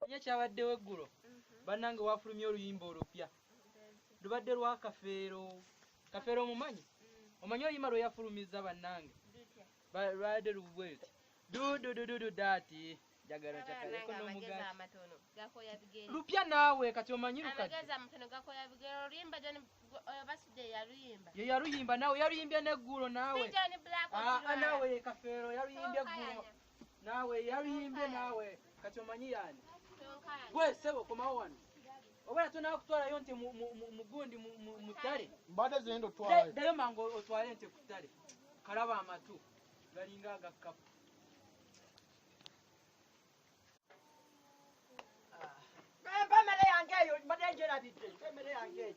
Manya ekyabaddewo eggulo bannange waafulumye oluyimba olupya lubadde lwa kafeero kafeero omumanyi omanyi oluyimba lwe yafulumizza bannange lwabadde lubweti dududududu daati jagala kyakaleko n'omugaati lupya naawe kati omanyi lukati ye yaluyimba naawe yaluyimbye n'eggulo naawe naawe kafeero yaluyimbye eggulo naawe yaluyimbye naawe kati omanyi yaani gwe sebo komawo wano oba natonaa kutwalayo nti mugundi mutale mbadde zendo twalayo dayo mangu otwale nti kutale kalaba amatu galinga agakkapu ah. emere yange eyo mbadde njerabidde emere yange eyo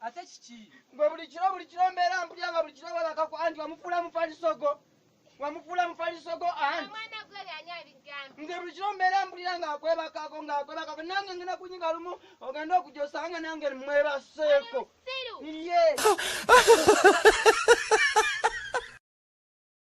ate kiki gwe buli kiro buli kiro mbeera mpulya nga buli kiro webakako anti wamufuula mufalisogo wamufuula mufalisogo anti nze buli kiro mbeera mpulira ngaakwebakako ngaakwebakako nange ngenda kunyinga lumu ogenda okujja osanga nange mwebaseeko ye